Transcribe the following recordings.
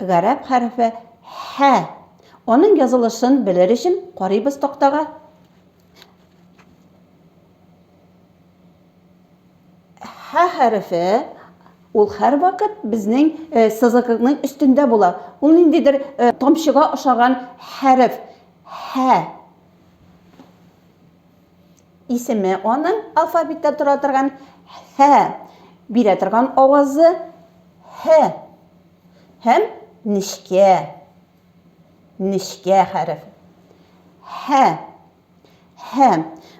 Гарәп хәрефе Һә. Аның язылышын белер өчен карыйбыз тактага. Һә хәрефе ул һәрвакыт безнең э, сызыкның өстендә була. Ул ниндидер э, тамчыга ошаган хәреф. Һә. Исеме аның алфавитта тора торган һә бирә торган авазы һә һәм нечкә нечкә хәреф һә һә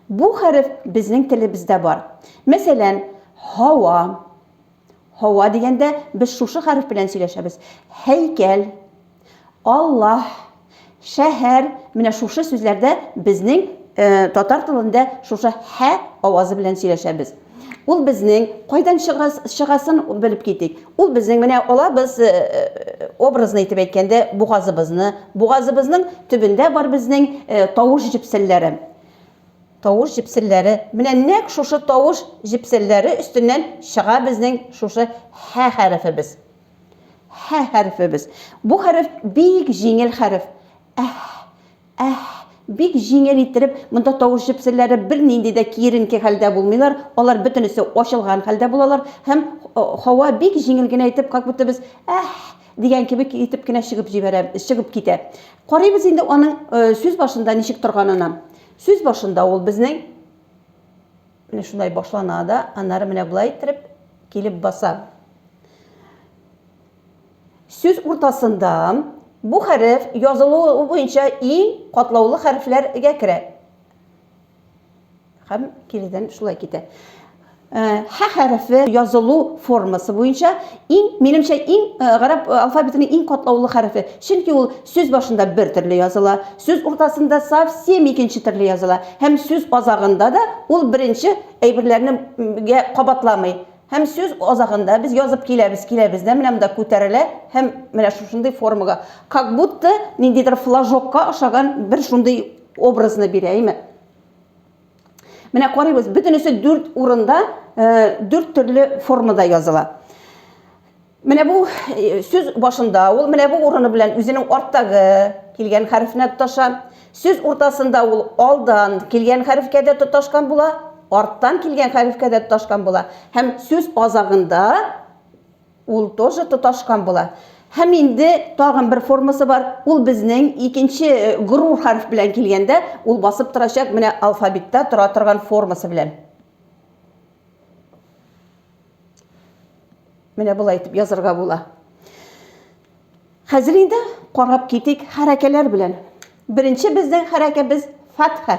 бу хәреф безнең телебездә бар мәсәлән һава Һава дигәндә без шушы хәреф белән сөйләшәбез. Һәйкәл, Аллаһ, шәһәр, менә шушы сүзләрдә безнең э, татар телендә шушы һә авазы белән сөйләшәбез. Ул безнең кайдан чыгасын белеп китик. Ул безнең менә алабыз э, э, образны итеп әйткәндә бугазыбызны, бугазыбызның төбендә бар безнең э, тавыш җепселләре. Тавыш җепселләре, менә нәкъ шушы тавыш җепселләре өстеннән чыга безнең шушы һә хәрефебез. Һә хәрефебез. Бу хәреф бик җиңел хәреф. Әһ, әһ, бик җиңел иттереп, монда тавыш җепселләре бернинди дә киеренке хәлдә булмыйлар, алар бөтенесе ачылган хәлдә булалар һәм һава бик җиңел генә итеп, как будто без әһ дигән кебек итеп кенә чыгып җибәрә, чыгып китә. Карыйбыз инде аның сүз башында ничек торганына. Сүз башында ул безнең Менә шулай башлана да, аннары менә болай иттереп килеп баса. Сүз уртасында бу хәреф язылуы буенча иң катлаулы хәрефләргә керә. Һәм киридән шулай китә. Э, Һә хәрефе язылу формасы буенча иң, минемчә, иң э, гарәп э, алфавитының иң катлаулы хәрефе. Чөнки ул сүз башында бер төрле языла, сүз уртасында совсем икенче төрле языла, һәм сүз азагында да ул беренче әйберләрне кабатламый. Һәм сүз азагында без язып киләбез, киләбез дә менә монда күтәрелә һәм менә шушындый формага. Как будто ниндидер флажокка ошаган бер шундый образны бирә, әйме? Менә карыйбыз, бөтенесе дүрт урында, э, дүрт төрле формада языла. Менә бу э, сүз башында, ул менә бу урыны белән үзенең арттагы килгән хәрефенә тоташа. Сүз уртасында ул алдан килгән хәрефкә дә тоташкан була, арттан килгән хәрефкә дә тоташкан була. Һәм сүз азагында Ул тоже тоташкан була. Һәм инде тагын бер формасы бар. Ул безнең икенче э, горур хәреф белән килгәндә, ул басып торачак менә алфавитта тора торган формасы белән. Менә болай итеп язырга була. Хәзер инде карап китик хәрәкәләр белән. Беренче безнең хәрәкәбез фатха.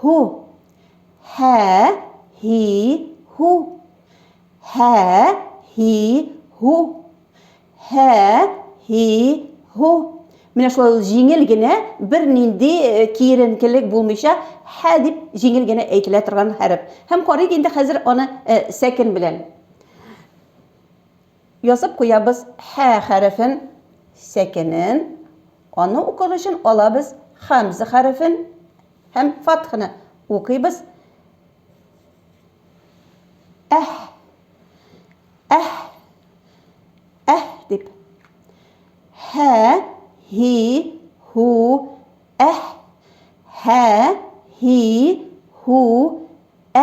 һу һә һи һу һә һи һу һә һи һу Менә шулай ул җиңел генә, бер нинди э, киеренкелек булмыйча, һә дип җиңел генә әйтелә торган хәреф. Һәм карыйк инде хәзер аны э, сәкен белән. Язып куябыз хә хәрефен, сәкенен, аны укыр өчен алабыз хәмзә хәрефен һәм фатхны укыйбыз әһ, әһ, әһ дип. Хә, һи, һу, әһ, хә, һи, һу,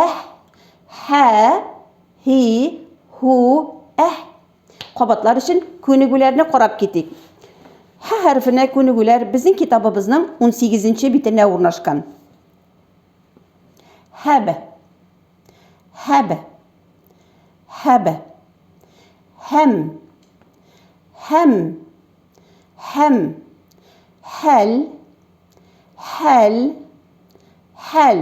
әһ, хә, Һи, һу, әһ. Кабатлар өчен күнегүләрне карап китик. Һә хәрефенә күнегүләр безнең китабыбызның 18 нче битенә урнашкан. Һәб. Һәб. Һәб. Һәм. Һәм. Һәм. Хәл. Хәл. Хәл.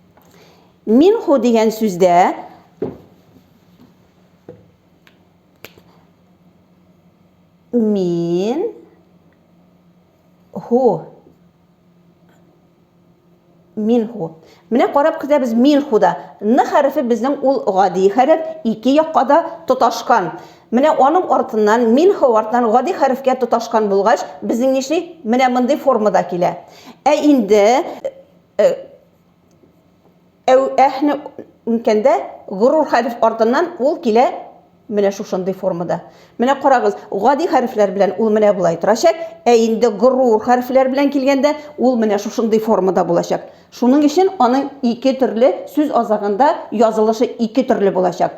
Минху дигән сүздә мин ху минху. Менә карап көтәбез минхуда. Н хәрефе безнең ул гади хәреф, ике якка да тоташкан. Менә аның артыннан минху артыннан гади хәрефкә тоташкан булгач, безнең нишли? Менә мондый формада килә. Ә инде Э, әү әһне үткәндә горур хәреф артыннан ул килә менә шушындый формада. Менә карагыз, гади хәрефләр белән ул менә болай торачак, ә инде горур хәрефләр белән килгәндә ул менә шушындый формада булачак. Шуның өчен аның ике төрле сүз азагында язылышы ике төрле булачак.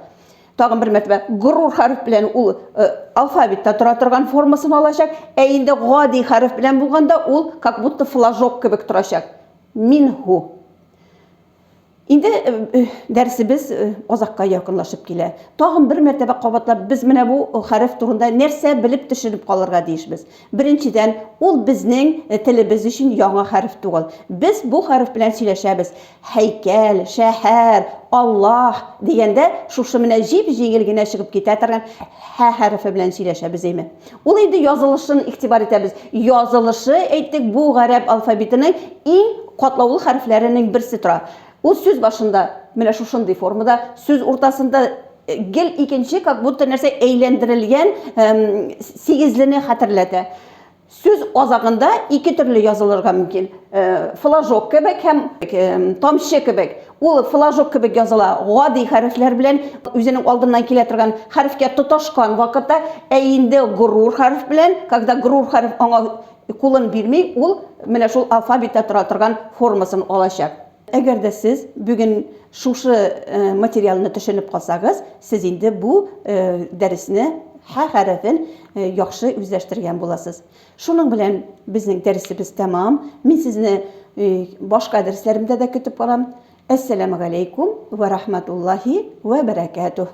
тагын бер мәртәбә горур хәреф белән ул э, алфавитта тора торган формасын алачак, ә инде гади хәреф белән булганда ул как будто флажок кебек торачак. Минху. Инде э, э, дәрсебез э, азакка якынлашып килә. Тагын бер мәртәбә кабатлап, без менә бу хәреф турында нәрсә белеп төшенеп калырга тиешбез? Беренчедән, ул безнең телебез өчен яңа хәреф түгел. Без бу хәреф белән сөйләшәбез. Һәйкәл, шәһәр, Аллаһ дигәндә, шушы менә җип-җиңел генә чыгып китә торган һә хәрефе белән сөйләшәбез, әйме? Ул инде язылышын игътибар итәбез. Язылышы, әйттек, бу гарәп алфавитының иң катлаулы хәрефләренең берсе тора. Ул сүз башында, менә шушындый формада, сүз уртасында, Гел икенче, как будто нәрсә әйләндерелгән эм, сигезлене хәтерләтә. Сүз азагында ике төрле язылырга мөмкин. Э, флажок кебек һәм эм, тамчы кебек. Ул флажок кебек языла. Гади хәрефләр белән үзенең алдыннан килә торган хәрефкә тоташкан вакытта, ә инде горур хәреф белән, когда горур хәреф аңа кулын бирми, ул менә шул алфавитта тора торган формасын алачак. Әгәр дә сез бүген шушы материалны төшенеп калсагыз, сез инде бу дәресне, һә хәрефен яхшы үзләштергән буласыз. Шуның белән безнең дәресебез тәмам. Мин сезне башка дәресләремдә дә көтеп калам. Әссәламегаләйкүм вә рахмәтуллаһи вә бәрәкәтүһ.